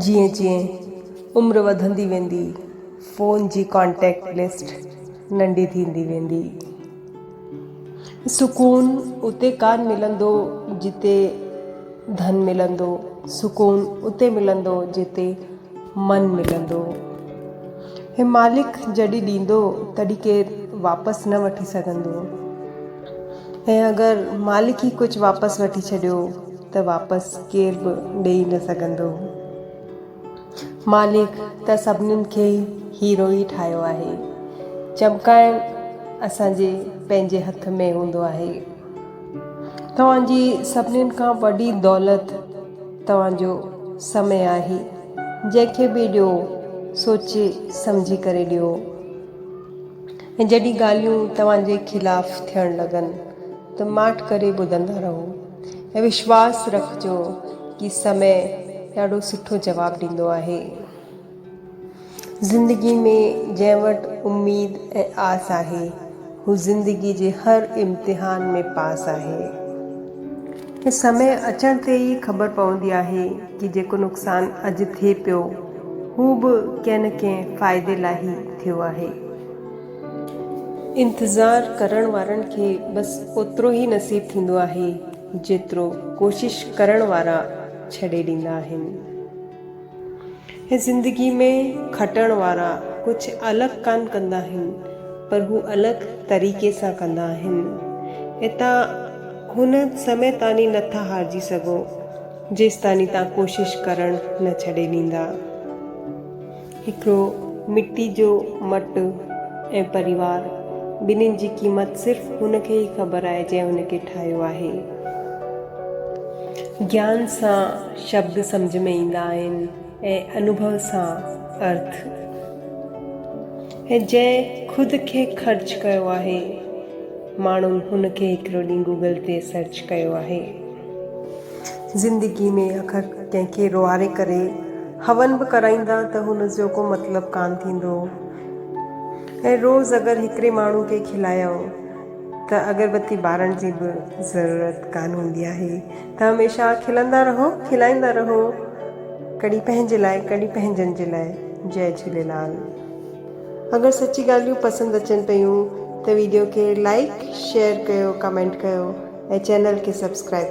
جيئن جيئن عمر وڌندي ويندي فون جي ڪانٽيڪٽ لسٽ ننڍي ٿيندي ويندي. سڪون اتي ڪانه ملندو جتي ڌن ملندو، سڪون اتي ملندو جتي من ملندو. هي مالڪ جڏهن ڏيندو تڏهن ڪير واپس نه وٺي سگهندو ۽ اگر مالڪ ئي ڪجهه واپس وٺي ڇڏيو ته واپس ڪير به ڏيئي نه سگهندو. مالڪ ته سڀنين کي هيرو ئي ٺاهيو آهي. چمڪائڻ اسان جي پنهنجي هٿ ۾ هوندو آهي. توهان جي سڀنين کان وڏي دولت توهان جو سمي آهي. جنهن کي به ڏيو سوچي سمجهي ڪري ڏيو. ۽ جڏهن ڳالهيون توهان جي خلاف ٿيڻ لڳن ته ماٺ ڪري ٻڌندا رهو. وشواس رکجو ڪي سمي ڏاڍو سٺو جواب ڏيندو آهي زندگي ۾ جنهن وٽ اميد ۽ آس آهي هو زندگي جي هر امتحان ۾ پاس آهي ۽ سمي اچڻ تي ئي خبر پوندي آهي ڪي جيڪو نقصان اڄ ٿئي پيو هو به ڪنهن نه ڪنهن فائدي لاء هي ٿيو آهي انتظار ڪرڻ وارن کي بس اوترو ئي نصيب ٿيندو آهي جيترو ڪوشش ڪرڻ وارا ڇڏي ڏيندا آهن. هي زندگي ۾ کٽڻ وارا ڪجهه الڳ ڪانه ڪندا آهن پر هو الڳ طريقي سان ڪندا آهن. اتان هن سمي تاني نه ٿا هارجي سگهو جيستاني تان ڪوشش ڪرڻ نه ڇڏي ڏيندا. هڪڙو مٽي جو مٽ ۽ پريوار ٻنهين جي قيمت صرف هن کي ئي خبر آهي جنهن هن کي ٺاهيو آهي. گيان سان شبد سمجهه ۾ ايندا آهن ۽ انوڀو سان ارٿ. ۽ جنهن خود کي خرچ ڪيو آهي ماڻهن هن کي هڪڙو ڏينهن گوگل تي سرچ ڪيو آهي. زندگي ۾ اکر ڪنهن کي روئاري ڪري هون به ڪرائيندا ته هن جو ڪو مطلب ڪانه ٿيندو ۽ روز اگر هڪڙي ماڻهو کي کلايئو ته اگربتي ٻارڻ جي به ضرورت ڪانه هوندي آهي ته هميشه کلندا رهو کلائيندا رهو ڪڏهن پنهنجي لاء ڪڏهن پنهنجن جي لاء جئي جهوليلال اگر سچي ڳالهيون پسند اچن پيون ته ويڊيو کي لائڪ شيئر ڪيو ڪمينٽ ڪيو. ۽ چينل کي سبسڪرائب.